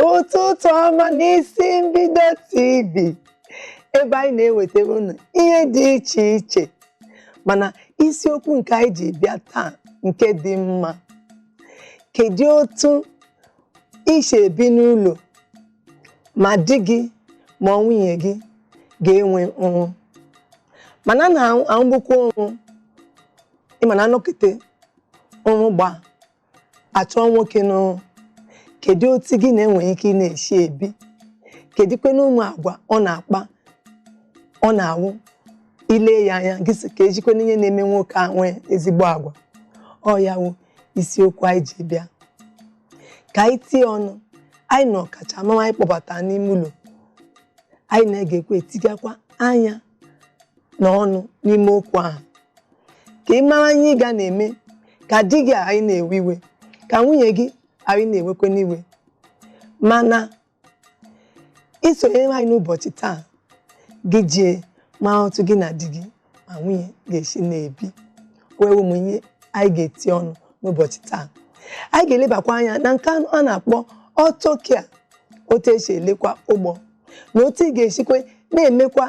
ụtụtụ ọma n'isi mbido tv ebe anyị na-ewetara unu ihe dị iche iche mana isiokwu nke anyị ji bịa taa nke dị mma kedu otu i si ebi n'ụlọ ma di gị ma ọ nwunye gị ga-enwe ọrụ mana a na-arụgbukwa ọrụ ị ma na anọkata ọrụ gba achụọ nwoke n'ọrụ kedu otu gị na ya nwere ike ị na-esi ebi kedikwenụ ụmụ agwa ọ na-akpa ọ na-awụ i lee ya anya gị sị kedikwenụ ihe na-eme nwoke a nwere ezigbo agwa ọ ya wụ isiokwu anyị ji bịa ka anyị tie ọnụ anyị na ọkachamara anyị kpọbata n'ime ụlọ anyị na-egekwa etigakwa anya na ọnụ n'ime okwu ahụ ka ị mara ihe ị ga na-eme ka di gị ghara ị na-ewe iwe ka nwunye gị ghara ị na-ewekwenụ iwe mana i sonyere anyị n'ụbọchị taa gị jee mara otu gị na di gị ma nwunye ga-esi na-ebi o nwere ụmụ ihe anyị ga-eti ọnụ n'ụbọchị taa anyị ga-elebakwa anya na nke a na-akpọ auto care otu esi elekwa ụgbọ na otu ị ga-esikwe na-emekwa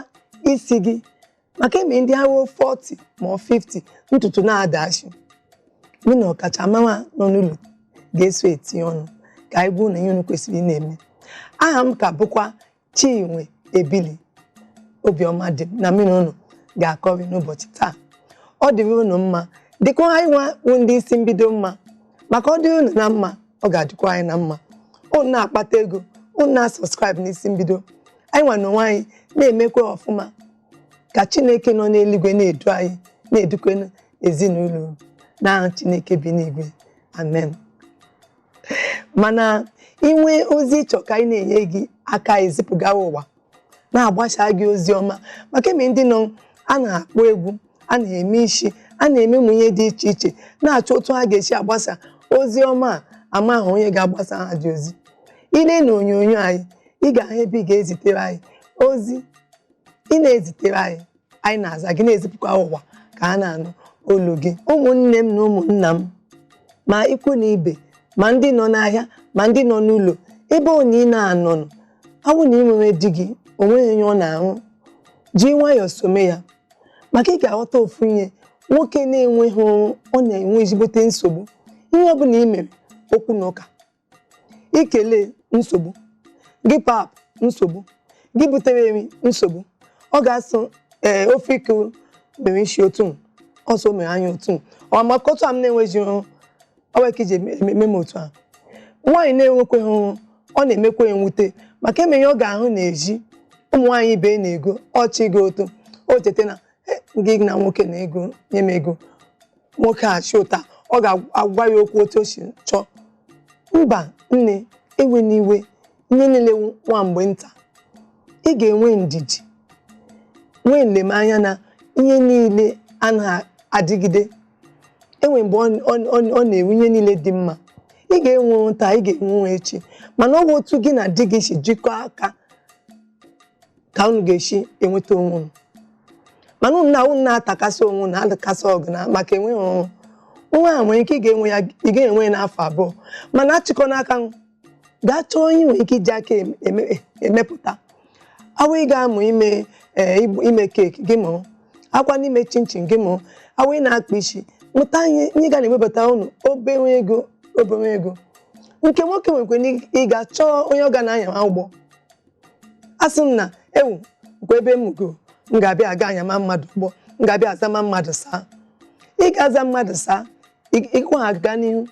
isi gị maka e nwere ndị ahọ 40 ma ọ 50 ntutu na-adasị mụ na ọkachamara nọ n'ụlọ ga-eso etinye ọnụ ka anyị gwa unu ihe unu kwesịrị ị na-eme aha m ka bụkwa Chinwe Ebili obi ọma dị m na mụ na unu ga-akọrị n'ụbọchị taa ọ dịrị unu mma dịkwa anyị nwa bụ ndị isi mbido mma maka ọ dịrị unu na mma ọ ga-adịkwa anyị na mma unu na-akpata ego unu na-asubscribe n'isi mbido anyị nwa n'onwe anyị na-emekwa ọfụma ka chineke nọ n'eluigwe na-edu anyị na-edukwa ezinụlọ n'aha chineke bi n'igwe amen mana i nwee ozi ị chọrọ ka anyị na-enye gị aka ezipụgara ụwa na-agbasa gị ozi ọma maka e nwere ndị nọ a na ha akpọ egwu a na ha eme isi a na-eme ụmụ ihe dị iche iche na-achọ otu ha ga-esi agbasa ozi ọma ama ha onye ga-agbasa ha dị ozi i lee na onyonyo anyị ị ga-ahụ ebe ị ga-ezitere anyị ozi ị na-ezitere anyị anyị na-aza gị na-ezipụkwa ụwa ka a na-anụ olu gị ụmụnne m na ụmụnna m ma ikwu na ibe ma ndị nọ n'ahịa ma ndị nọ n'ụlọ ebe ọ bụla ị na-anọ n'ụwa ọ wụ na ị nwere di gị onweghị ihe ọ na-arụ ji nwayọọ some ya maka ị ga-aghọta ofu ihe nwoke na-enweghị ọrụ na-enwe ezigbote nsogbu ihe ọ bụla ị mere okwu na ụka ikele nsogbu gị pap nsogbu gị butere nri nsogbu ọ ga-asụ ee eh, ofe ike mere isi otu ọsọ mere anya otu ọ maka otu a m na-enweghị ọrụ ka iji eme m otu a nwaanyị na-enwekweghị ọrụ ọ na-emekwa nwute maka emeghị ọ ga-ahụ na-eji ụmụ nwaanyị ibe na-ego ọchị gị otu o cheta na eh, gị na nwoke na ego nye m ego nwoke a chi ụta ọ ga-agwa ya okwu otu o si chọọ mba nne ewena iwe ihe niile nwa mgbe nta ị ga-enwe ndidi nwee nlemanya na ihe niile anaghị adịgide enwe mgbe ọ na-ewu ihe niile dị mma ị ga-enwe taa ị ga-enwe echi mana ọ bụ otu gị na di gị si jikọọ aka ka unu ga-esi enweta onwe unu mana unu na unu na-atakasị onwe unu adakasị ọgụ na maka enweghị ọrụ nwa a nwere ike ị ga-enwe ya ị ga-enwe ya n'afọ abụọ mana achịkọna aka gaa chọọ ihe i nwere ike iji aka em- eme- emepụta awụ ị ga-amụ ime ee, igbu- ime keeki gị mụrụ ọ kwanụ ime chinchin gị mụrụ awụ ị na-akpa isi mụta ihe ihe ga na-ewebata unu obere ego obere ego nke nwoke nwekwa ike ịga chọọ onye ọ ga na-anya ụgbọ asị m na ewu nkwa ebe m go m ga-abịa aga anyama mmadụ ụgbọ m ga-abịa azama mmadụ sir ị ga-aza mmadụ sir ị- ịkwa ha gaa n'ihu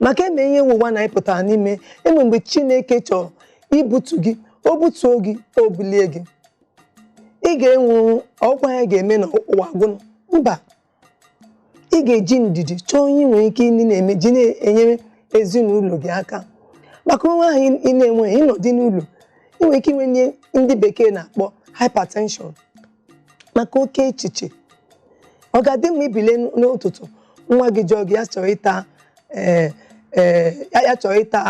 maka eme ihe ụwa na ịpụtara n'ime enwe mgbe chineke chọrọ ibutu gị o butuo gị o bulie gị ị ga-enwu ọkwa ya ga-eme na ụwa gwụnụ mba ị ga-eji ndidi chọọ ihe i nwere ike ịdị na-eme ji na-enyere ezinụlọ gị aka maka onwe ahụ ị na-enweghị ị nọdụ n'ụlọ ị nwere ike inwe ihe ndị bekee na-akpọ hypertension maka oke echiche ọ ga-adị mma i bilie n'ụtụtụ nwa gị jụọ gị ya chọrọ ịta ee eh, ee eh, ya chọrọ ịta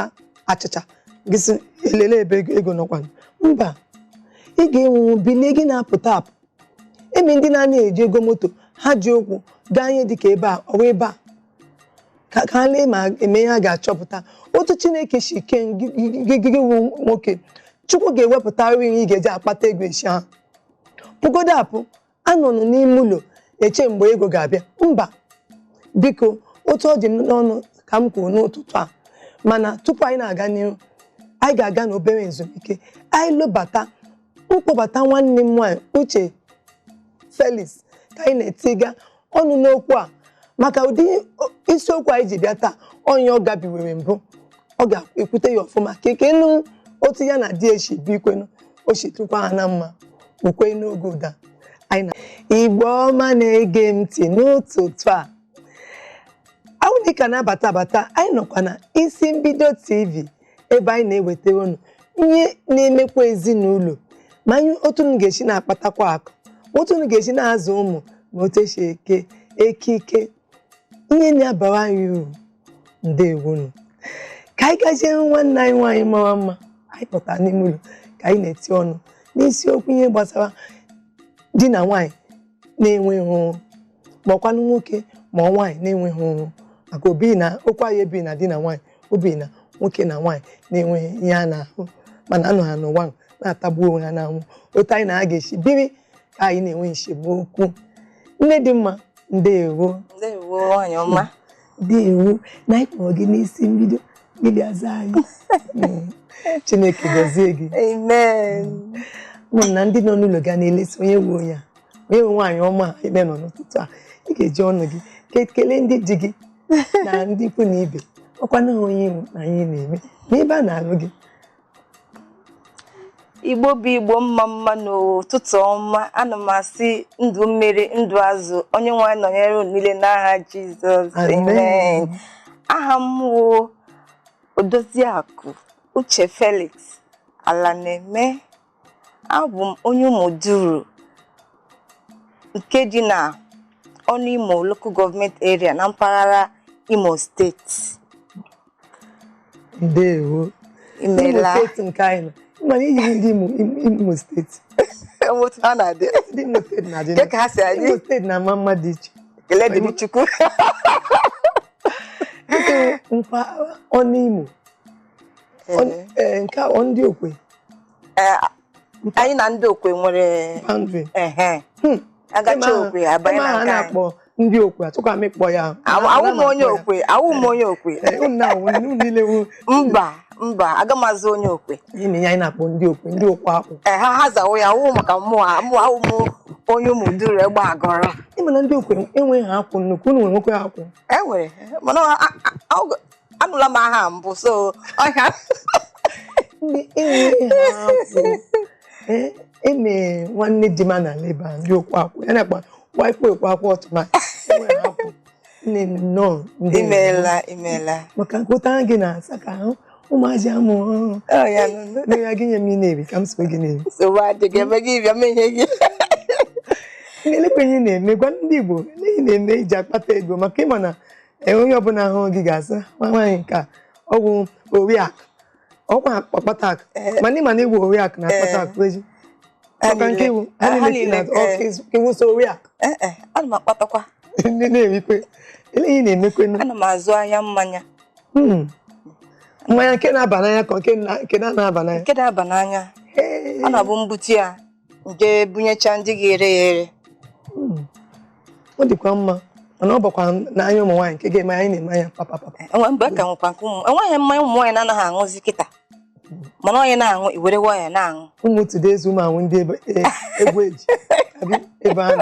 achịcha gị sị elee ebe ego nọkwa mba ị ga-enwu bilie gị na-apụta apụ emi ndị na-anaghị eji ego moto ha ji ụkwụ gaa ihe dịka ebe a ọwa ebe a ka ka ha lee ma e nwee ihe ha ga-achọpụta otu chineke si kee gị gị gị wụ nwoke chukwu ga-ewepụta nri ị ga-eji akpata ego esi ahụ pụgodo apụ anọna n'ime ụlọ eche mgbe ego ga-abịa mba biko otu ọ dị m n'ọnụ ka m kwuru n'ụtụtụ a mana tupu anyị na-aga n'ihu anyị ga-aga n'obere ezumike anyị lọbata mkpọbata nwanne m nwaanyị Uche Felix ka anyị na-etiga ọnụ n'okwu a maka ụdị isiokwu anyị ji bịa taa onye ọ gabiwere mbụ ọ ga-ekwute ya ọfụma ka ike nụ otu ya na di eshi bi ikwenu o chitụkwa ha na mma ukwe n'oge ụda anyị na Igbo ọma na-ege m ntị n'ụtụtụ a a wụ na ị ka na-abata abata anyị nọkwa na isi mbido tv ebe anyị na-ewetara unu ihe na-emekwa ezinụlọ ma anyị otu unu ga-esi na-akpatakwa akụ otu unu ga-esi na-azụ ụmụ ma otu esi eke ekike ihe na-abara anyị uru ndewonu ka anyị gazie hụ nwanne anyị nwaanyị mara mma anyị pụtara n'ime ụlọ ka anyị na-eti ọnụ n'isiokwu ihe gbasara di na nwaanyị na-enweghị ọrụ ma ọkwanụ nwoke ma ọ nwaanyị na-enweghị ọrụ maka obi na okwu anyị ebi na di na nwaanyị obi na nwoke na nwaanyị na-enweghị ihe ha na-arụ mana anọ ha n'ụwa na-atagbu onwe ha n'anwụ otu anyị na ha ga-esi biri ka anyị na-enwe esemokwu nne dị mma ndewo ndewo nwanyị ọma ndewo na anyị kpọrọ gị n'isi mbido gị bịa zaa anyị hmm. Chineke gọzie gị amen ụmụnna ndị nọ n'ụlọ ga na-elesi onye wụ onye a onye nwe nwaanyị ọma ebe nọ n'ụtụtụ a ị ga-eji ọnụ gị kelee ndị di gị na ndị ikwu na ibe ọkwa na onye na anyị na-eme n'ebe a na-alụ gị Igbo bụ Igbo mma mma nụ ụtụtụ ọma ana m asị ndụ mmiri ndụ azụ Onyenweanyị nọnyere unu niile n'aha Jizọs amen aha m wụ Odoziakụ Uche Felix Alaneme abụ m onye Ụmụduru nke dị na Ọnụimo local government area na mpaghara Imo steeti ndewo Imo imela steeti nke anyị nọ mana i yi ndị Imo Imo steeti otu ha na-adị ndị Imo steeti na-adị Kee ka ha si adị? Imo steeti na-ama mma dị iche ekele dịrị Chukwu mpaghara Ọnụimo e, nke wụ ndị Okwe e, anyị na ndị okwe nwere boundary a gachaa Okwe a banye na nke anyị ndị okwe atụkwa m ịkpọ ya awụ m onye okwe awụ m onye okwe mba mba aga m azụ onye okwe ime ya anyị na-akpọ ndị okwe ndị okwe akwụ ee ha ha zawo ya awụ maka mmụọ mụ awụ m onye Ụmụduru Egbeaguru ị ma na ndị okwe enweghị ha akwụ nnukwu unu nwekwe akwụ e nwere mana anụla m aha mbụ so ọhịa eme e nwanne di ma na leba ndị okwu akwụ ya nakwa waikpo ekwe akwụ ọtụma nnọọ imeela imeela maka nkụta gị na-asa ka ahụ ụmụazị amụ ọhụrụ ya gị nye m ihe ị na-eri ka m so gị na-eri nsogbu adịghị ebe gị bịa m nye gị elekwe ihe ị na-eme gwa ndị Igbo ele ihe ị na-eme iji akpata ego maka ịma na ee onye ọbụla hụ gị ga-asị nwa nwaanyị nke a ọ bụ oriakụ ọkwa ọkpata akụ eh. mana ịma na ị wụ oriakụ na ọkpata akụ eji maka nke ị wụ ha niile na ị wụ sọ oriakụ ana m akpatakwa ndị na-erikwe ele ihe ị na-emekwe ana m azụ ahịa mmanya hmm. mmanya nke na-aba n'anya ka nke na-aba n'anya nke na-aba n'anya ọ na-abụ m bute ya m je bunyecha ndị ga-ere ya ere hmm. ọ dịkwa mma mana ọ bakwa n'anya ụmụ nwaanyị nke ga-eme anyị na-eme anya papa papa e mgbe ka nwekwa nke ụmụ enweghị mmanya ụmụ nwaanyị na-anaghị aṅụzi kịta hmm. mana onye na-aṅụ ya were nwayọ na-aṅụ ụmụ tude ezi ụmụ anwụ ndị egwu e, eji ebe ahụ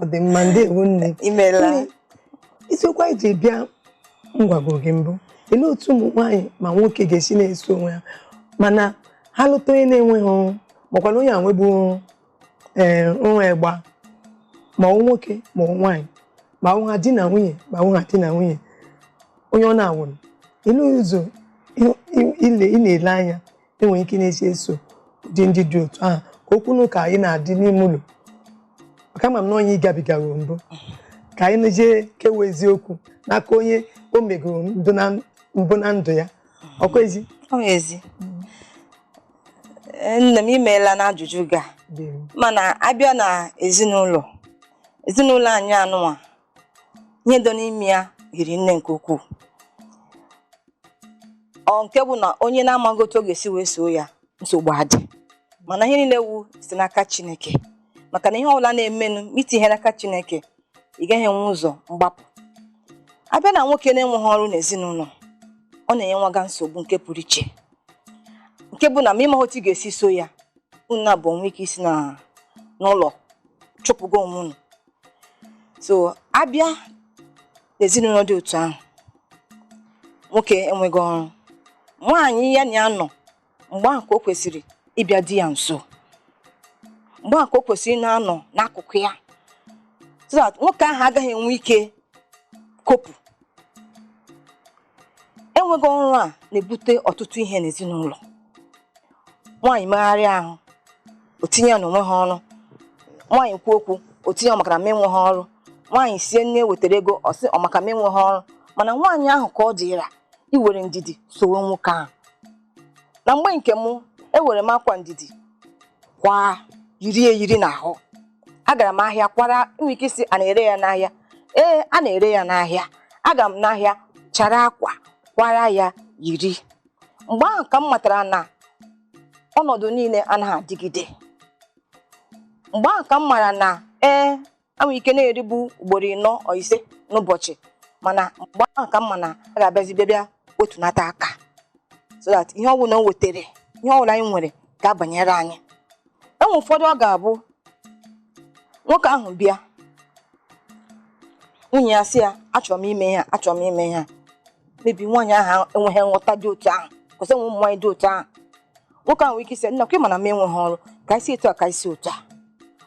ọ dị mma ndeewo nne imeela isiokwu anyị ji bịa m gwago gị mbụ ele otu ụmụ nwaanyị ma nwoke ga-esi na-eso onwe ha mana ha lụta onye na-enweghị makwana onye a nwebu ee nwa ịgba ma ọ nwoke ma ọ nwaanyị ma ọ ha di na nwunye ma ọ ha di na nwunye onye ọ na-awụnụ ele ụzọ ị na-ele anya enwere ike na-esi eso ụdị ndị dị otu ahụ ka okwu na ụka anyị na-adị n'ime ụlọ maka ama m na onye ihe gabigara mbụ ka anyị na-ejee kewa eziokwu n'aka onye o megoro mbụ na ndụ ya ọkwa ezi Eh, nne m imeela n'ajụjụ gị a mana abịa na ezinụlọ ezinụlọ anyị a nọnwa ihe dọ n'ime ya hiri nne nke ukwuu ọ nke bụ na onye na-amaghị otu ọ ga-esi wee soo ya nsogbu adị mana ihe niile wụ si n'aka chineke maka na ihe ọbụla na-emenụ ma itighị ya n'aka chineke ị gaghị enwe ụzọ mgbapụ abịa na nwoke na-enweghị ọrụ n'ezinụlọ ọ na-enyewaga nsogbu nke pụrụ iche nke bụ na ma ịmaghị otu ị ga-esi so ya unu naabụọ nwee ike isi n'ụlọ chụpụgo onwe unu so abịa n'ezinụlọ dị otu ahụ nwoke enweghị ọrụ nwaanyị ya na ya nọ mgbe ahụ ka o kwesịrị ịbịa di ya nso mgbe ahụ ka o kwesịrị na-anọ n'akụkụ ya so that nwoke ahụ agaghị enwe ike kopụ enweghị ọrụ a na-ebute ọtụtụ ihe n'ezinụlọ nwaanyị megharịa ahụ o tinye ya na o nweghị ọrụ nwaanyị kwuo okwu o tinye ọ maka na m enweghị ọrụ nwaanyị sie nne wetara ego ọ sị ọ maka m enweghị ọrụ mana nwaanyị ahụ ka ọ dịra iwere ndidi sowe nwoke ahụ na mgbe nke mụ ewere m akwa ndidi kwa yiri eyiri n'ahụ agara m ahịa kwara nwere ike ịsị a na-ere ya n'ahịa ee a na-ere ya n'ahịa agara m n'ahịa chara akwa kwara ya yiri mgbe ahụ ka m matara na ọnọdụ niile anaghị adịgide mgbe ahụ ka m mara na ee e nwere ike na-eribu ugboro ịnọ or ise n'ụbọchị mana mgbe ahụ ka m ma na a ga-abịazi bịa bịa wetunata aka so that ihe ọbụla o wetara ihe ọbụla anyị nwere ga-abanyere anyị e nwee ụfọdụ ọ ga-abụ nwoke ahụ bịa nwunye ya sị ya achọrọ m ime ihe a achọrọ m ime ihe a maybe nwaanyị ahụ enweghị nghọta dị otu ahụ cos e nwe ụmụ nwaanyị dị otu ahụ nwoke ahụ nwere ike ịsị nne akwa ị ma na m enweghị ọrụ ka e si etu a ka e si otu a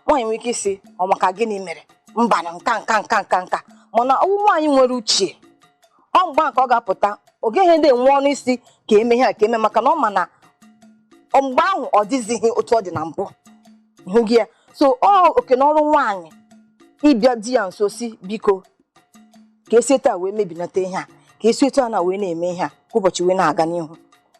nwaanyị nwere ike ịsị ọ maka gịnị mere mba na nka nka nka nka nka mana ọ wụ nwaanyị nwere uche ọ mgbe ahụ ka ọ ga-apụta ọ gaghịdị enwe ọnụ ịsị ka e mee ihe a ka e mee maka na ọ ma na mgbe ahụ ọ dịzighị otu ọ dị na mbụ hụghị ya so ọ oke na ọrụ nwaanyị ịbịa di ya nso sị biko ka e si etu a wee mebinata ihe a ka e si etu a na wee na-eme ihe a ka ụbọchị wee na-aga n'ihu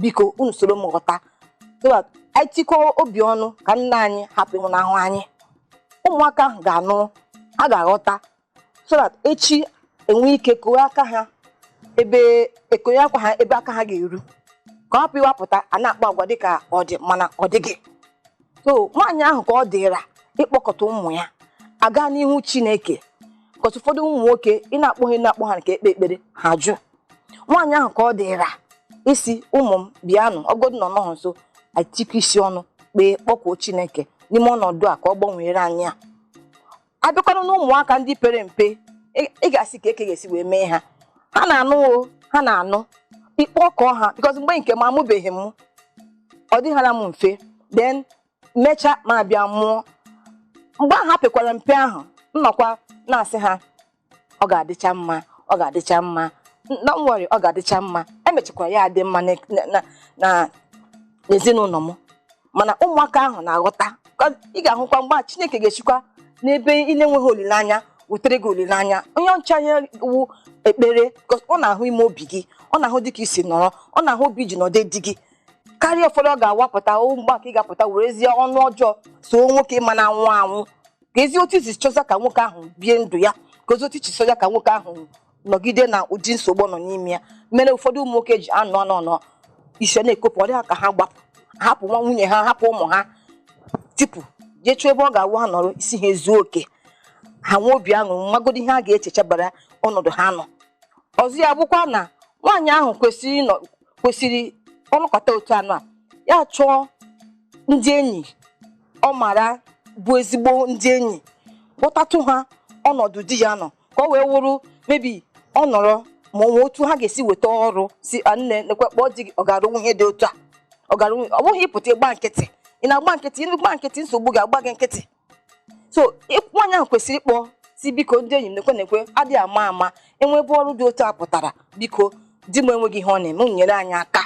biko unu soro m ghọta so that anyị tikọọ obi ọnụ ka nna anyị hapụ ịnwụnahụ anyị ụmụaka ahụ ga-anụ ha ga-aghọta so that echi e nwee ike kowe aka ha ebe e konye akwa ha ebe aka ha ga-eru ka ọ hapụ ịwụ a pụta a na-akpa agwa dịka ọ dị mana ọ dịghị so nwaanyị ahụ ka ọ dịra ịkpọkọta ụmụ ya a gaa n'ihu chineke cos ụfọdụ ụmụ nwoke ị na-akpọ ha ị na-akpọ ha ka e kpee ekpere ha ajụ nwaanyị ahụ ka ọ dịra ịsị ụmụ m bịanụ ọ godu na ọ nọghọ nso a tikọọ isi ọnụ kpee kpọkuo chineke n'ime ọnọdụ a ka ọ gbanwere anyị ya a bịakwanụ na ụmụaka ndị pere mpe ị- ị ga-asị kee ka a ga-esi wee mee ha ha na-anụ o ha na-anụ ị kpọkọọ ha because mgbe nke m amụbeghị m ọ dịghara m mfe then mecha m abịa mụọ mgbe ahụ ha pekwara mpe ahụ m nọkwa na-asị ha ọ ga-adịcha mma ọ ga-adịcha mma na nwere ọ ga-adịcha mma e mechakwara ya adị mma n'e- na- na- na n'ezinụlọ m mana ụmụaka ahụ na-aghọta Ka ị ga-ahụkwa mgbe a chineke ga-esikwa n'ebe ị na-enweghị olileanya wetere gị olileanya onye ọcha ya wụ ekpere ka ọ na-ahụ ime obi gị ọ na-ahụ dị ka i si nọrọ ọ na-ahụ obi i ji nọdụ di gị karịa ụfọdụ ọ ga-awụ apụta o mgbe a ka ị ga-apụta werezie ọnụ ọjọọ soo nwoke ma na-anwụ anwụ ka ezi otu i si chọza ka nwoke ahụ bie ndụ ya ka ezi otu i si chọza ka nwoke ahụ nọgide na ụdị nsogbu ọ nọ n'ime ya mere ụfọdụ ụmụ nwoke ji anọ anọ anọ isi na-ekopụ ọ dị ha ka ha gbapụ hapụ nwa nwunye ha hapụ ụmụ ha tipụ jee chọọ ebe ọ ga-awụ ha nọrọ isi ha ezuo oke ha nwee obi aṅụrị magodi ihe ha ga-echechabara ọnọdụ ha nọ ọzọ ya bụkwa na nwaanyị ahụ kwesịrị ịnọ kwesịrị ọ nọkata otu anụ a ya chọọ ndị enyi ọ mara bụ ezigbo ndị enyi kpọtatụ ha ọnọdụ di ya nọ ka ọ wee wụrụ maybe ọ nọrọ ma ọ nwee otu ha ga-esi weta ọrụ sị "Ah, nne nekwe kpọọ di gị ọ ga-arụ ihe dị otu a ọ ga-arụnwu ọ bụghị ịpụta ịgba nkịtị ị na-agba nkịtị ị gba nkịtị nsogbu ga-agba gị nkịtị so ị- nwaanyị ahụ kwesịrị ịkpọ sị biko ndị enyi m nekwe nekwe a dịghị ama ama e nwee ebe ọrụ dị otu a pụtara biko di m enweghị ihe ọ na-eme unu nyere anyị aka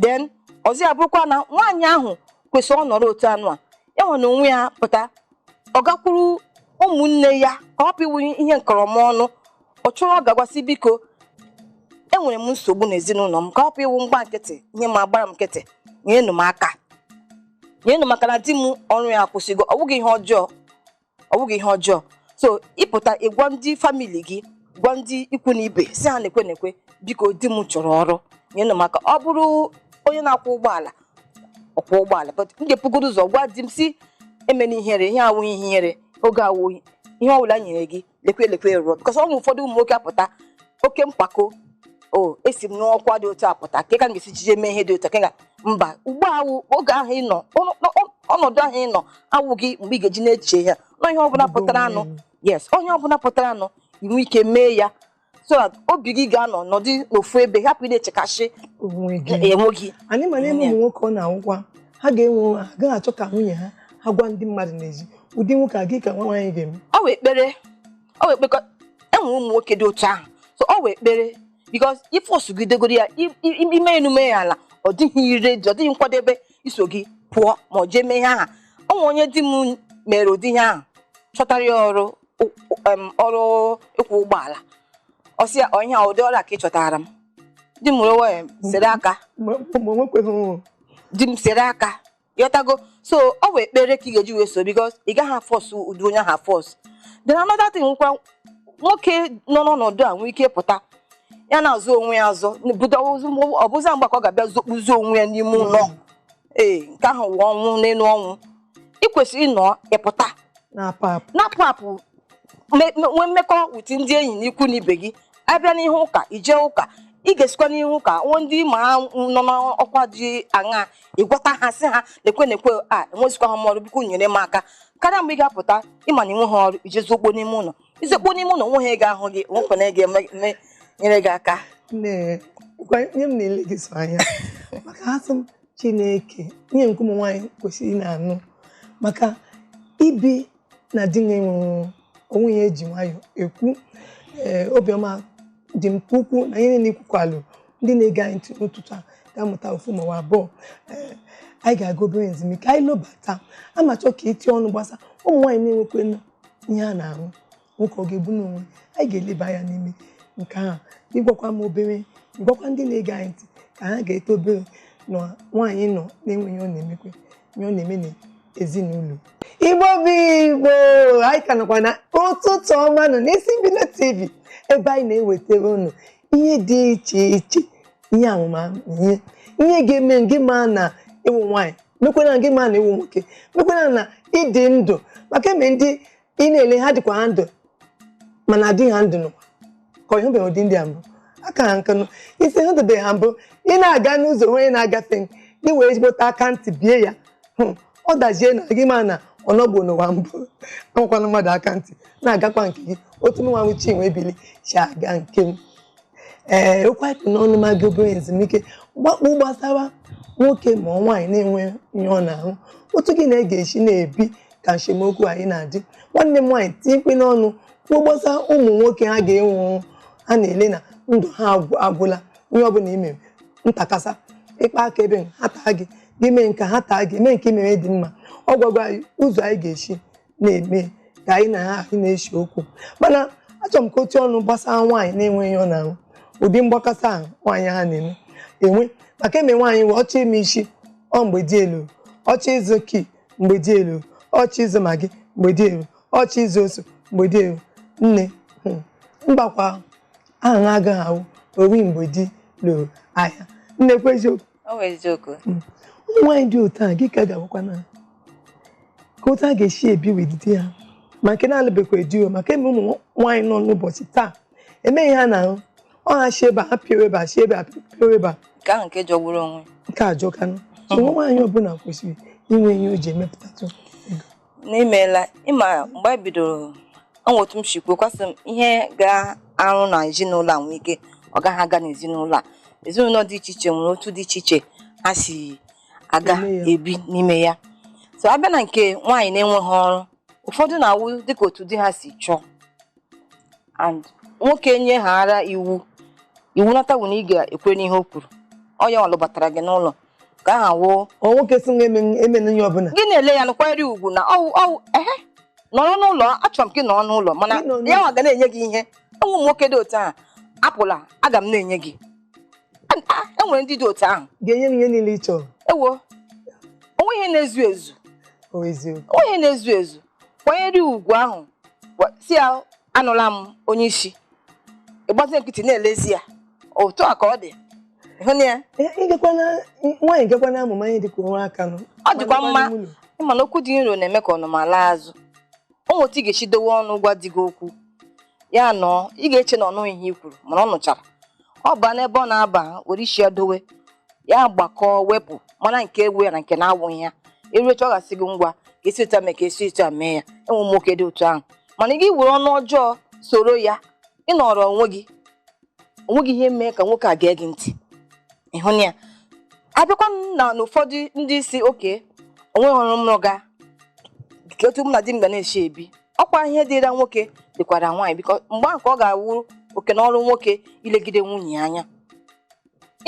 then ọzọ ya bụrụkwa na nwaanyị ahụ kwesịrị ọ nọrọ otu anụ a ya nwa n'onwe ya pụta ọ gakwuru ụmụnne ya ka ọ pụ ịwụ ihe nkọrọ m ọnụ ọ chọrọ ọ gaa gwa sị biko enwere m nsogbu n'ezinụlọ m ka ọ pụ ịwụ m gbaa nkịtị ihe m agbara m nkịtị nyenụ m aka nyenụ m aka na di m ọrụ ya akwụsịgo ọ bụghị ihe ọjọọ ọ bụghị ihe ọjọọ so ịpụta ịgwa ndị family gị gwa ndị ikwu na ibe sị ha nekwe nekwe biko di m chọrọ ọrụ nyenụ m aka ọ bụrụ onye na-akwọ ụgbọala ọ kwọọ ụgbọala but m ga-ebugodu ụzọ gwa di m sị emena ihere ihe a awụghị ihe ihere oge a wụ ihe ọbụla e nyere gị lekwe lekwe rụọ because o nwere ụfọdụ ụmụ nwoke apụta oke mpako o esi m n'ọkwa dị otu a pụta ka ka m ga-esi jije mee ihe dị otu a ka m ga mba ugbu a wụ oge ahụ ị nọ ọnụ- ọ- ọnọdụ ahụ ị nọ awụghị mgbe ị ga-eji na-eche ya na ihe ọbụla pụtaranụ yes ihe ọbụla pụtaranụ i nwee ike mee ya so that obi gị ga-anọ nọdụ n'ofu ebe hapụ ị na-echekasị onwe gị onwe gị anyị ma na e nwee ụmụ nwoke ọ na-awụkwa ha ga-enwe onwe ha agaghị achọ ka nwunye ha ha gwa ndị mmadụ n'ezie ụdị nwoke a gịnị ka nwa nwaanyị ga-eme ọ wụ ekpere ọ wụ ekpere e nwere ụmụ nwoke dị otu ahụ so ọ wụ ekpere because if i sogidegoro ya i- i- i- i mee enu mee ya ala ọ dịghị ire ọ dịghị nkwadebe iso gị pụọ ma ọ jee mee ihe aha o nwere onye di m mere ụdị ihe ahụ chọtara ya ọrụ ụ- ụ- em, ọrụ ịkwọ ụgbọala ọ sị ya ihe ụdị ọrụ a ka ị chọtara m di m were wee sere aka ma ma o nwekweghị ọrụ di m sere aka ịghọtago so ọ wụ ekpere ka ị ga-eji wee so because ị gaghị afọs ụdị onye ahụ afọs then another thing nkwa nwoke nọ n'ọnọdụ a nwee ike pụta ya na-azọ onwe ya azọ ọ bụzi mgbe ka ọ ga-abịa zokpuzi onwe ya n'ime ụlọ ee nke ahụ wụ ọnwụ n'elu ọnwụ ị kwesịrị ịnọ ịpụta na-apụ apụ nwee mmekọ with ndị enyi na ikwu na ibe gị a bịa n'ihe ụka ije ụka ị ga-esikwa n'ihe ụka nwee ndị ma nọ n'ọkwa dị aṅa ịgwata ha sị ha lekwe lekwe a enwezikwa ha m ọrụ biko nyere m aka karịa mgbe ị ga-apụta ịma na inwe ha ọrụ ije zokpuo n'ime ụlọ izokpuo n'ime ụlọ onwe ha ị ga-ahụ gị nwekwa na ị ga-eme eme- nyere gị aka Nne, gwa nye m na-ele gị sọ anya maka asị m Chineke nye nke ụmụ nwaanyị kwesịrị ị na-anụ maka ibi na di ọ wụ ihe eji nwayọ ekwu ee obiọma dị m ka ukwuu na ihe niile ikwukwalụ ndị na-ege anyị ntị n'ụtụtụ a ga-amụta ofu ma ọ abụọ Ee, anyị ga-aga obere ezumike anyị lobata amachọ ka iti ọnụ gbasa ụmụ nwaanyị na-enwekwanụ ihe ha na-arụ nwoke ọ ga-ebu n'onwe anyị ga-eleba anya n'ime nke ahụ ịgwakwa m obere ịgwakwa ndị na-ege anyị ntị ka ha ga-eto obere na nwaanyị nọ na-enweghị ọ na-emekwe ihe ọ na-eme n'ezinụlọ igbo bụ igbo anyị ka nọkwa na ụtụtụ ọma nọ n'isi mbido tv ebe anyị na-ewetara unu ihe dị iche iche ihe amamihe ihe ga-eme gị ma na ịwụ nwaanyị mekwana gị ma na ịwụ nwoke mekwana na ịdị ndụ maka eme ndị ị na-ele ha dịkwa ha ndụ mana adịghị ha ndụ n'ụwa ka ọ ịhụbeghị ụdị ndị a mbụ aka ha nkanụ isi hụtụbeghị ha mbụ ị na-aga n'ụzọ onye na-agafe gị wee ezigbote aka ntị bie ya ọ dazie na gị ma na ọnọgbo n'ụwa mbụ amakwana mmadụ aka ntị na-agakwa nke gị otu m nwa wụ chinwe ebili si aga nke m ee okwu a kpụ n'ọnụ ma gị obere ezumike gbakpụ gbasara nwoke ma ọ nwaanyị na-enwe ihe ọ na-arụ otu gị na ya ga-esi na-ebi ka nsemokwu anyị na-adị nwanne m nwaanyị tinyekwanụ ọnụ kwuo gbasa ụmụ nwoke ha ga-enwe ha na-ele na ndụ ha agwụla ihe ọbụla imere ntakasa ịkpa aka ebe ha taa gị gị mee nke ha taa gị mee nke imere dị mma ọ gwagwo anyị ụzọ anyị ga-esi na-eme ka anyị na ha anyị na-ese okwu mana achọrọ m ka o tii ọnụ gbasa nwaanyị na-enweghị ihe ọ na-arụ ụdị mgbakasa ahụ nwaanyị ha na-eme enwe maka eme nwaanyị wee ọchọ ime isi ọ mgbe dị elu ọchọ ịzụ ki mgbe dị elu ọchọ ịzụ maggi mgbe dị elu ọchọ ịzụ ose mgbe dị elu nne hmm, mgbakwa aha na agaghị awụ owi mgbe di lụrụ ahịa nnekwu eziokwu ọ bụ eziokwu ụmụ nwaanyị dị otu a gị ka ga-agwakwa na ka otu a ga-esi ebi with di ha ma nke na-alụbekwa di o maka eme ụmụ nwaanyị nọ n'ụbọchị taa emeghị ha na-ahụ ọ ha si ebe a ha pịawa ebe a si ebe a pịawa ebe a nke ahụ nke jọgburu onwe nke a jọkanụ so nwa nwaanyị ọbụla kwesịrị inwe ihe o ji emepụtatụ nne imeela ị ma mgbe anyị bidoro o nwe otu m si kwuo kwa sị m ihe ga-arụ na ezinụlọ a nwee ike ọ gaghị aga n'ezinụlọ a ezinụlọ dị iche iche nwere otu dị iche iche ha si aga Eme ya. ebi n'ime ya so abịa na nke nwaanyị na-enweghị ọrụ ụfọdụ na-awụ dịka otu di ha si chọọ and nwoke nyehara iwu iwu natawu na ị ga-ekwe n'ihe o kwuru ọ ya nwa lụbatara gị n'ụlọ ka aha wụ ọ nwoke sị nwa emen- emenụ ihe ọbụla gị na-ele ya nkwanyere ugwu na ọ wụ ọ wụ ehe nọrọ n'ụlọ achọrọ m ka ị nọrọ n'ụlọ mana Gị nọ n'ụlọ. ya nwa ga na-enye gị ihe e nwe ụmụ nwoke dị otu ahụ apụla aga m na-enye gị A- a- enwere ndị dị otu ahụ ga-enye m ihe niile ị chọrọ ewo o nwe ihe na-ezu ezu o eziokwu o nwe ihe na-ezu ezu kwanyere ya ugwu ahụ gwa- sị ya anụla m onye isi ị gbazi nkịtị na-elezi ya otu a ka ọ dị ịhụ na ya ngekwana nwaanyị ngekwana amụma ihe dịka onwe aka nụ ọ dịkwa mma Nwanne m ụlọ. ị ma na okwu dị nro na-eme ka ọnụma laa azụ o nwe etu ị ga-esi dowe ọnụ gwa di gị okwu ya nọọ ị ga-eche na ọ nụghị ihe i kwuru mana ọ nụchara ọ baa n'ebe ọ na-aba were isi ya dowe ya gbakọọ wepụ mara nke wụ ya na nke na-awụghị ya e ruo echi ọ ga-asị gị ngwa ka esi otu a mee ka esi otu a mee ya e nwe ụmụ nwoke dị otu ahụ mana gị were ọnụ ọjọọ soro ya ị nọrọ onwe gị o nweghị ihe mee ka nwoke a gee gị ntị ịhụ na ya abịakwa na n'ụfọdụ ndị sị okay o nwe ọrụ m rụga ka otu mụ na di m ga na-esi ebi ọ kwa ihe dịra nwoke dịkwara nwaanyị biko mgbe ahụ ka ọ ga-awụ oke na ọrụ nwoke ilegide nwunye ya anya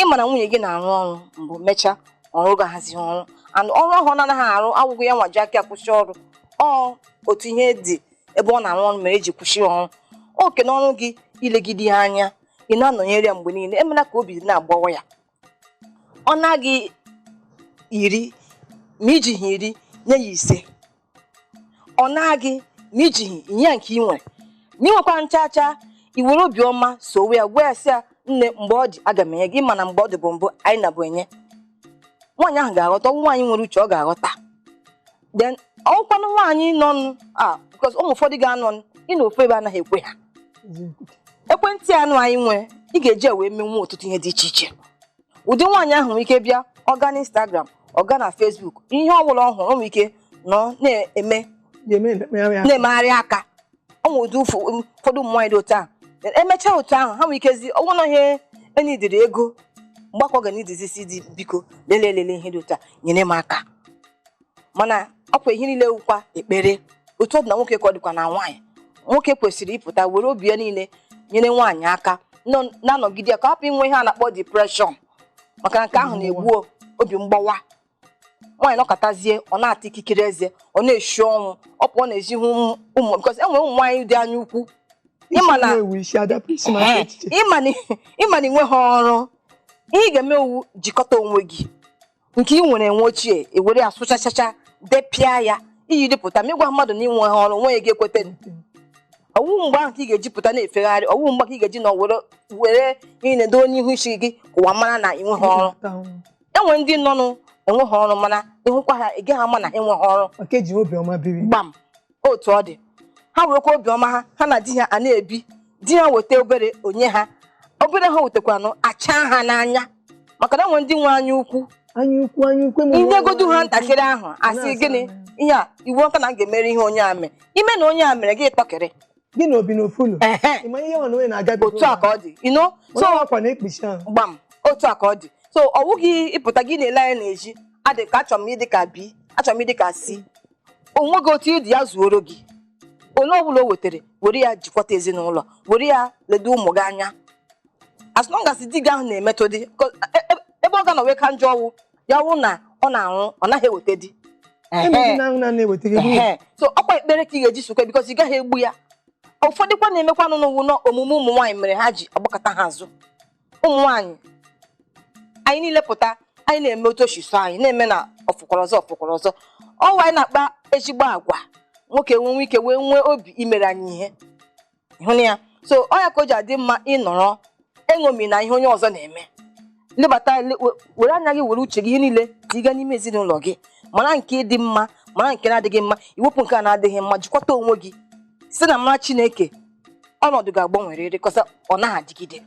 ị ma na nwunye gị na-arụ ọrụ mbụ mechaa ọ rụgahazi ọrụ and ọrụ ahụ ọ na-anaghị arụ awụghị ya nwa ji aka ya kwụsị ọrụ ọ otu ihe dị ebe ọ na-arụ ọrụ mere eji kwụsị ọrụ oke na ọrụ gị ilegide ya anya ị na-anọnyere ya mgbe niile emela ka obi na-agbawa ya ọ na gị iri ma ijighị iri nye ya ise ọ na gị ma ijighị nye ya nke ị nwere ma ị nwekwa nchancha ị were obiọma sowe ya gwa ya sị ya nne mgbe ọ dị aga m enye gị ị ma na mgbe ọ dịbu mbụ anyị na-ebu enye nwaanyị ahụ ga-aghọta ọ wụ nwaanyị nwere uche ọ ga-aghọta then ọkwanụ nwaanyị nọ nụ a because ụmụ ụfọdụ ga-anọ nụ ịnọ ofu ebe anaghị ekwe ha ekwentị ahụ anyị nwere ị ga-eji wee menwe ọtụtụ ihe dị iche iche ụdị nwaanyị ahụ nwere ike bịa ọ gaa na Instagram ọ gaa na Facebook ihe ọ bụla ọ hụrụ o nwere ike nọ na-eme na-emegharị aka ọ nwere ụdị ụfụ- ụfọdụ ụmụ nwaanyị dị otu ahụ Then emechaa otu ahụ ha nwere ikezi ọnwụ na ihe enidiri ego mgbakọ ga n'idizi sị di biko lelee lelee ihe dị otu a nyere m aka mana ọkwa ihe niile wụkwa ekpere otu ọ dị na nwoke ka ọ dịkwa na nwaanyị nwoke kwesịrị ịpụta were obi ya niile nyere nwaanyị aka nọ- na-anọgide ya ka ọ hapụ inwe ihe a na-akpọ depression maka na nke ahụ na-egbu obi mgbawa nwaanyị nọkatazie ọ na-ata ikikere eze ọ na-eshi ọnwụ ọ pụọ n'ezi hụ ụmụ- ụmụ because e nwere ụmụ nwaanyị dị anya ukwu ị ma na ewu isi adapụ isi na Ee, echiche ị ma na ị ma na ị nweghị ọrụ ihe ị ga-eme ọ wụ jikọta onwe gị nke ị nwere enwe ochie i were ya sụchachacha depịa ya i yiri pụta ma ị gwa mmadụ na i nweha ọrụ nwa ya ga-ekweta ọ wụ mgbe ahụ ka ị ga-eji pụta na-efegharị ọ wụ mgbe ka ị ga-eji na were were ị na-edo onye ihu isi gị ka ụwa mara na i nweha ọrụ e nwe ndị nọnụ enweha ọrụ mana ị hụkwa ha ị gaghị ama na enweha ọrụ Maka e ji obiọma biri. gbam otu ọ dị ha werekwa obiọma ha ha na di ha a na-ebi di ha weta obere o nye ha obere ha wetakwanụ acha ha n'anya maka na e nwe ndị nwe anya ukwu anya ukwu anya ukwu i nyegodu ha ntakịrị ahụ a sị gịnị ihe a iwu ọka na m ga-emere ihe onye a mee ime na onye a mere gị tọkịrị gị na obi n'ofu ụlọ ịma ihe nwa na onye na-agabi otu a ka ọ dị ino so akwa na-ekpuchi ahụ gbam otu a ka ọ dị so ọ wụghị ịpụta gị na-ele anya na-eji adị ka A achọrọ m ịdị ka B achọrọ m ịdị ka C onwe gị otu ị dị ya zuoro gị ole ọbụla o wetara were ya jikwata ezinụlọ were ya ledo ụmụ gị anya as long as di gị ahụ na-emetụ dị e, e, ebe ọ ga-anọ wee ka njọ ọ wụ ya wụ na ọ na-anwụ ọ naghị eweta di so ọkwa ekpere ka ị ga-eji sokwa because ị gaghị egbu ya ụfọdụkwa na-emekwanụ na ọ wụ na omume ụmụ nwaanyị mere ha ji agbakọta ha azụ ụmụ nwaanyị anyị niile pụta anyị na-eme otu o shi sọ anyị na-eme na ọ fụkwara ọzọ ọ fụkwara ọzọ ọ wụ anyị na-akpa ezigbo agwa nwoke wee nwee ike wee nwee obi imere anyị ihe ịhụnanya so ọ ya ka o ji adị mma ị nọrọ eṅomina ihe onye ọzọ na-eme lebata le- we- were anya gị were uche gị ihe niile tiga n'ime ezinụlọ gị mara nke dị mma mara nke na-adịghị mma i wepụ nke a na-adịghị mma jikwata onwe gị site n'amara Chineke ọnọdụ ga-agbanwerịrị cos ọ naghị adịgide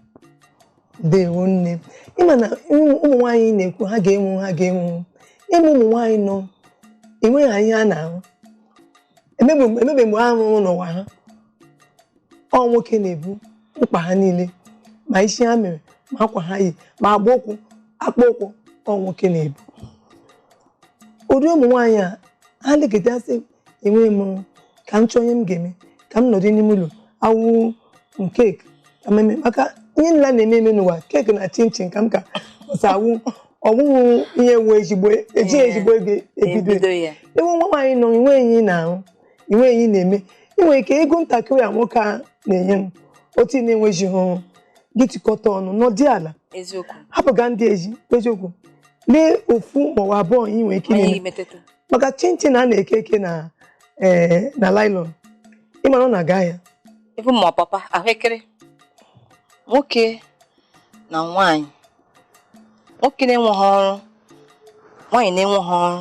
deewo nne ịma na ụmụ nwaanyị na-ekwu ha ga-enwu ha ga-enwu ịmụ ụmụ nwaanyị nọ enweghị ihe ha na-emebe mgbe ha rụrụ n'ụwa ha ọ nwoke na-ebu mkpa ha niile ma isi ha mere ma akwa ha yi ma agba ụkwụ akpa ụkwụ ọ nwoke na-ebu ụdị ụmụ nwaanyị a ha legidesị enweghị m ka m chọọ ihe m ga-eme ka m nọdụ n'ime ụlọ ọ wụ keeki ka m mee maka ihe nla na-eme eme n'ụwa keeki na chinchin kama cos ọ wụ ọ wụ ihe ewu ezigbo ejighị ezigbo ego ebido ebido ya ị wụ nwa nwaanyị nọ i nweghị ihe ị na-arụ i nweghị ihe ị na-eme ị nwere ike ego ntakịrị a nwoke a na-enye m otu ị na-enwejighị gị tikọta ọnụ nọdụ ala eziokwu hapụga ndị ezi eziokwu lee ofu maọbụ abụọ ị nwere ike ime maka chinchin a na-eke eke na eh, na nylon ịmara ọ na-aga ahịa even ma ọpapa ahụekere nwoke na nwaanyị nwoke na-enweghị ọrụ nwaanyị na-enweghị ọrụ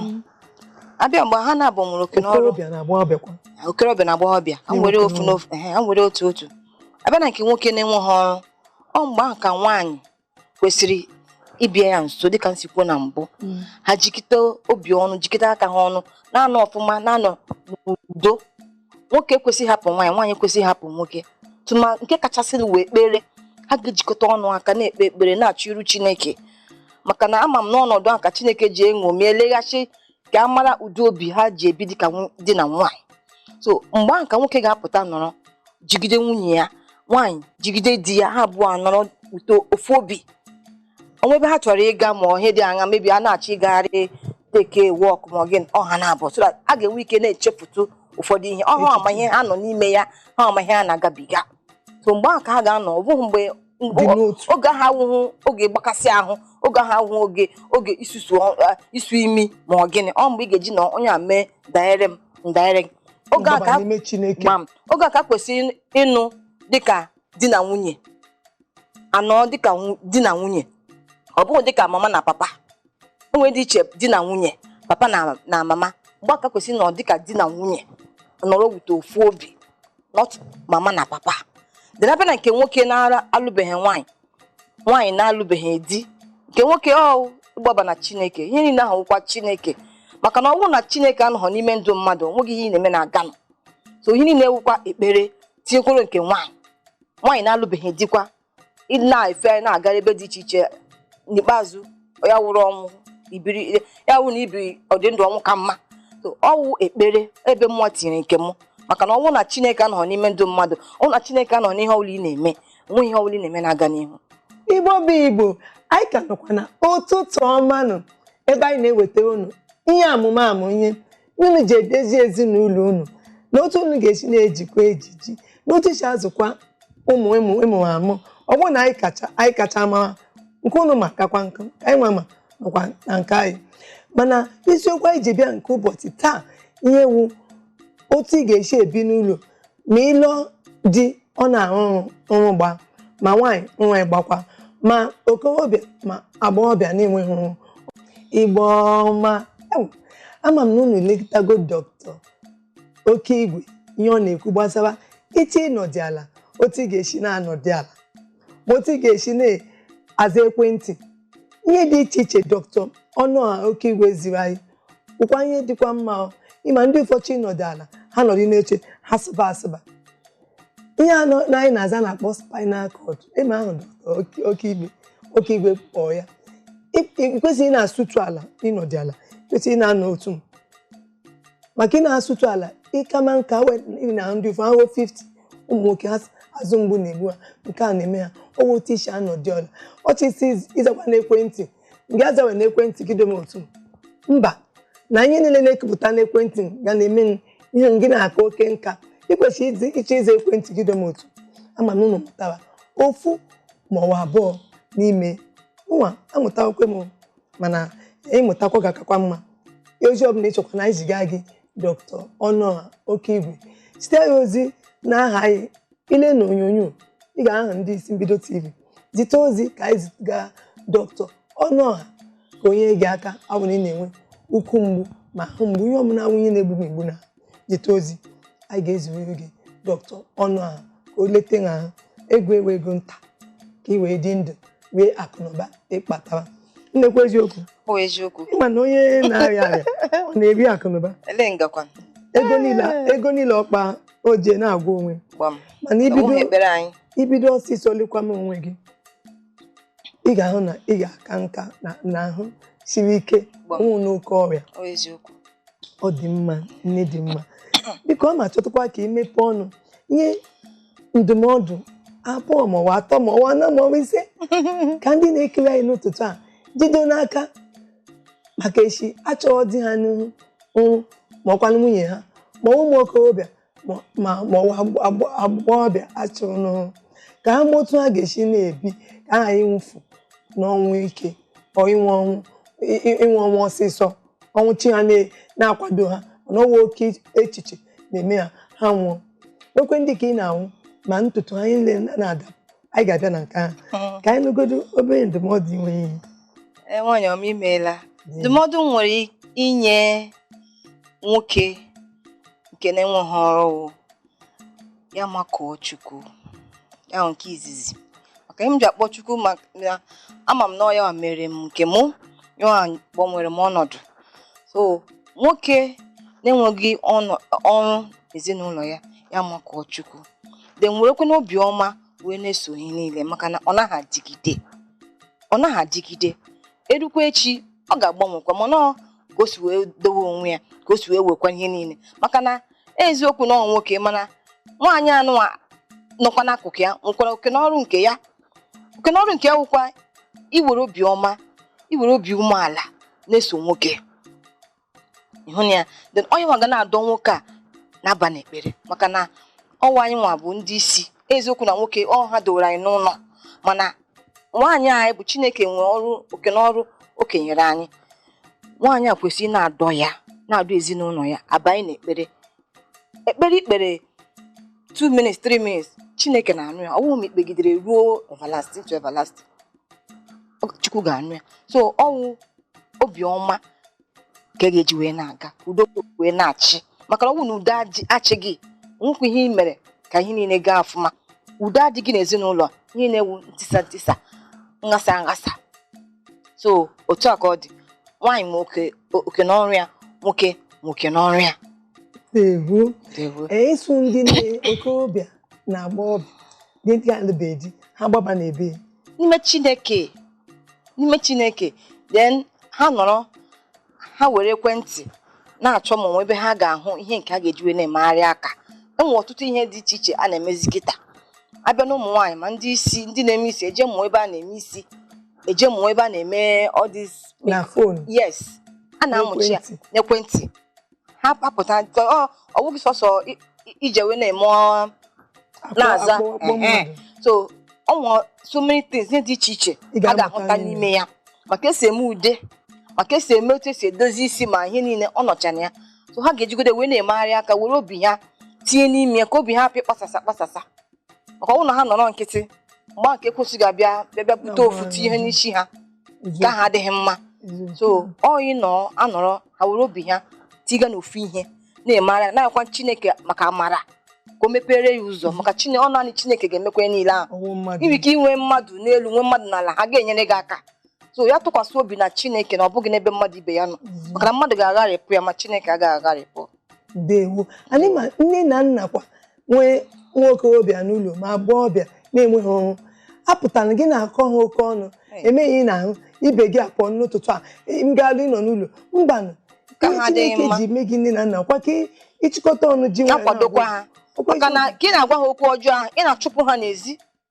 abịa mgbe ha na-abụ nwere oke n'ọrụ okorobịa na agbọghọbịa okorobịa na agbọghọbịa ha nwere Nwoke ofu na n'ofu ehe, ha nwere otu otu abịa na nke nwoke na-enweghị ọrụ ọ mgbe ahụ ka nwaanyị kwesịrị ịbịa ya nso dịka m si kwuo na mbụ mm. ha jikọta obi ọnụ jikọta aka ha ọnụ na-anọ ọfụma na-anọ n'udo nwoke ekwesịghị hapụ nwaanyị nwaanyị ekwesịghị hapụ nwoke tụma nke kachasị wụ ekpere ha ga-ejikọta ọnụ aka na-ekpe ekpere na-achọ iru Chineke maka na ama m na ọnọdụ a ka Chineke ji eṅomi eleghachi ka a mara ụdị obi ha ji ebi dịka nw- di na nwaanyị so mgbe ahụ ka nwoke ga-apụta nọrọ jigide nwunye ya nwaanyị jigide di ya ha abụọ anọrọ with ofu obi o nwee ebe ha chọrọ ịga ma ihe dị aṅaa maybe ha na-achọ ịgagharị take walk ma ọ gịnị ọ ha naabọ so that ha ga-enwe ike na-echepụta ụfọdụ ihe ọhụ ama ihe ha nọ n'ime ya ha ama ihe ha na-agabiga so mgbe ahụ ka ha ga-anọ ọ bụghị mgbe oge ahụ awụhụ oge mgbakasị ahụ oge ahụ awụhụ oge oge isusu isu imi ma ọ gịnị ọ mgbe ị ga-eji na onye a mee danyere m m danyere gị oge a ka e kwesịrị ịnọ dịka di na nwunye anọ dịka di na nwunye ọ bụghị dịka mama na papa o nwere ndịiche di na nwunye papa na mama mgbe a ka e kwesịrị ịnọ dịka di na nwunye nọrọ with ofu obi not mama na papa then abịa na nke nwoke na-alụbeghị nwaanyị nwaanyị na-alụbeghị di nke nwoke ọ ịgbaba na chineke ihe niile ahụ wụkwa chineke maka na ọ bụrụ na chineke anọghọ n'ime ndụ mmadụ o nweghị ihe ị na-eme na-aganụ so ihe niile wụkwa ekpere tinyekwuru nke nwaanyị nwaanyị na-alụbeghị dikwa na-efe na-agara ebe dị iche iche n'ikpeazụ ya wụrụ ọnwụ ibiri ya wụ na ibiri ọdị ndụ ọnwụ ka mma So, ọ wụ ekpere ebe mụ tinyere nke m maka na ọ wụ na chineke anọghị n'ime ndụ mmadụ ọ wụ na chineke anọghị n'ihe ọbụla ị na-eme o nweghị ihe ọbụla ị na-eme na-aga n'ihu igbo bụ igbo anyị ka nọkwa na ụtụtụ ọma nụ ebe anyị na-eweta unu ihe amụmamụ ihe unu ji edezi ezinụlọ unu na otu unu ga-esi na-ejikwa ejiji na otu i si azụkwa ụmụ ị mụ amụ ọ bụghị na anyị kacha mara nke unu ma kakwa nke anyị nwa ma nakwa na nke anyị mana isiokwu anyị ji bịa nke ụbọchị taa ihe wụ otu ị ga-esi ebi n'ụlọ ma ị lụọ di ọ na-arụ ọrụ gba ma nwaanyị nwa gbakwa ma okorobịa ma agbọghọbịa na-enweghị ọrụ igbo ọma ama m na unu elekọtago doctor Okeigwe ihe ọ na-ekwu gbasara iche ịnọdị ala otu ị ga-esi na-anọdị ala ma otu ị ga-esi na-aza ekwentị ihe dị iche iche doctor Ọnụọha Okeigwe ziri anyị wụkwa ihe dịkwa mma ị ma ndị ụfọ chọ ịnọdụ ala ha nọdụ n'oche ha sụba asụba ihe a nọ anyị n'azụ a na-akpọ spinal cord ịma ahụ doctor Okeigwe kpọọ ya ị kwesịghị ị na-asụtụ ala ịnọdụ ala kwesịrị ị na-anọ otu maka ị na-asụtụ ala ị kama nka na ndị ụfọ afọ 50 ụmụ nwoke ha azụ mgbu na-egbu ha nke a na-eme ha ọ wụ otu i shi anọdị ala ị chọ ịzakwa n'ekwentị ngị azawe na ekwentị gị dome otu mba na ihe niile na-ekepụta n'ekwentị ga na-eme ihe gị na-aka oke nka ị kwesịrị ị chọ ịza ekwentị gị dome otu ama m na unu mụtara ofu ma ọ bụ abụọ n'ime nwa amụtakwa m mana ị mụtakwa ga-akakwa mma ozi ọbụla ị chọkwa na anyị zigara gị doctor Ọnụọha Okeigwe zite ya ozi na aha anyị i lee na onyonyo ị ga-ahụ aha ndị isi mbido tv zite ozi ka anyị ziga doctor Ọnụọha ka o nye gị aka ọ bụrụ ị na-enwe ukwu mgbu ma ahụ mgbu ihe ọbụla wụ ihe na-egbu egbu na zite ozi anyị ga-eziri gị doctor Ọnụọha ka o lete ha ahụ ego ewe ego nta ka ị wee dị ndụ rie akụnụba ị kpatara ị na-ekwu eziokwu Ọ bụ eziokwu. ị ma na onye na-arịa arịa ọ na-eri akụnụba Ele ngakwa. ego niile ego niile ọ kpaa o ji na-agwọ onwe ya. gbam mana i bido ọsịsọ lekwama onwe gị ị ga-ahụ na ị ga-aka nka na ahụ siri ike Gbam. nwụ n'oke ọrịa ọ eziokwu ọ dị mma nne dị mma biko aga m achọtụkwa ka i mepee ọnụ nye ndụmọdụ abụọ ma ọ bụ atọ ma ọ bụ anọ ma ọ bụ ise ka ndị na-ekiri anyị n'ụtụtụ a jido n'aka maka echi achụrụ di ha n'ọrụ ma ọkwanụ nwunye ha ma ụmụ okorobịa ma- ma ma ọ bụ agba- agbọghọbịa achụrụ n'ọrụ ka ha ma otu ha ga-esi na-ebi ka aghara ịnwụfu n'ọnwụ ike or ịnwụ ọnwụ ị- ị- ịnwụ ọnwụ ọsịsọ ọnwụ chi ha na- na-akwado ha na ọnwụ oke echiche na-eme ha ha nwụọ nwekwe ndị ka ị na-ahụ ma ntutu ha niile na-ada anyị ga-abịa na nke ahụ hmm. ka anyị nụgodo obere ndụmọdụ i nwere e, nwaanyị ọma imeela ndụmọdụ m nwere inye nwoke nke na-enweghị ọrụ wụ ya makụọ chukwu ya nke izizi maka ihe m ji akpọ chukwu maka ama m na ọ ya mere m nke mụ ya gbanwere m ọnọdụ so nwoke na-enweghị ọrụ ezinụlọ ya ya makụọ chukwu then werekwanụ obi ọma wee na-eso ihe niile maka na ọ naghị adịgide ọ naghị adịgide erukwa echi ọ ga-agbanwekwa mana ọ ka o si wee dowe onwe ya ka o si wee wekwa ihe niile maka na eziokwu na ọ nwoke mana nwaanyị anụ a nọkwa n'akụkụ ya nwekwara oke n'ọrụ nke ya oke n'ọrụ nke ya wụkwa iwere obi ọma iwere obi umeala na-eso nwoke ịhụ na ya then ọ ya nwa ga na-adọ nwoke a na-aba n'ekpere maka na ọwụ anyị nwa bụ ndị isi eziokwu na nwoke ọ ha dowere anyị n'ụlọ mana nwaanyị anyị bụ chineke nwere ọrụ oke n'ọrụ o kenyere anyị nwaanyị a kwesịrị na-adọ ya na-adọ ezinụlọ ya abanye n'ekpere ekpere ikpere 2 minutes 3 minutes chineke na-anụ ya ọwụghị ma ikpegidere ruo everlasting to everlasting Ọ- chukwu ga-anụ ya so ọwụ obiọma ka a ga-eji wee na-aga udo wee na-achị maka na ọ bụrụ na udo achịghị nwekwa ihe ị mere ka ihe niile gaa ọfụma udo adịghị n'ezinụlọ ihe na-ewu ntisa ntisa nghasa nghasa so otu a ka ọ dị nwaanyị ma oke n'ọrụ ya nwoke nwe oke n'ọrụ ya ịsụ ndị nne okorobịa na agbọghọbịa dị ndị alụbeghị di ha gbaba n'ebe ya n'ime chineke n'ime chineke then ha nọrọ ha were ekwentị na-achọ ma o nwe ebe ha ga-ahụ ihe nke a ga-eji wee na-emegharị aka enwere ọtụtụ ihe dị iche iche a na-emezi kịta abịa na ụmụ nwaanyị ma ndị isi ndị na-eme isi eje mụọ ebe a na-eme isi eje mụọ ebe a na-eme all this na phone yes a na-amụcha ya N'ekwentị. n'ekwentị ha kpapụta nke ọ ọ bụghị sọsọ i- i- ije wee na-eme ọ- na-aza Akpọ- akpọ ehe. mmadụ. so ọ nwere so many things ihe dị iche iche Ị a ga-amụta ga-ahụta n'ime n'ime ya maka esi eme ude maka esi eme otu esi edozi isi ma ihe niile ọ nọcha na ya so ha ga-ejigode wee na-emegharị aka were obi ha tinye n'ime ya ka obi ha hapụ ịkpasasa kpasasa maka ọ bụ na ha nọrọ nkịtị mgbe ekwensu ga-abịa bịa bịa bute ofu tinye ihe n'isi ha nke ahụ adịghị mma so ọyị nọ anọrọ ha were obi ha tiga n'ofu ihe na-emara ya na-akwa chineke maka amara ka o mepere ya ụzọ maka chine ọ naanị chineke ga-emekwa ya niile ahụ ọnwụ mmadụ i nwere ike inwe mmadụ n'elu nwee mmadụ n'ala ha ga-enyere gị aka so ya tụkwasị obi na chineke na ọ bụghị n'ebe mmadụ ibe ya nọ maka na mmadụ ga-agharịpụ ya ma chineke agaghị agharịpụ ndewo anyị ma nne na nna kwa nwee nwa okorobịa n'ụlọ ma agbọghọbịa na-enweghị ọrụ apụtaghị gị na-akọ ha oke ọnụ emeghị ị na-ahụ ibe gị apụọ n'ụtụtụ a gaa ọlụ ị nọ n'ụlọ mbanụ Ka ihe ahụ adịghị Chineke mma. ji mee gị nne na nna kwa ka ị- ị chịkọta ọnụ ji nwayọọ na-akwadokwa na-agwa ha okwu maka na ka ị na-agwa ha okwu ọjọọ ahụ ị na-achụpụ ha n'ezi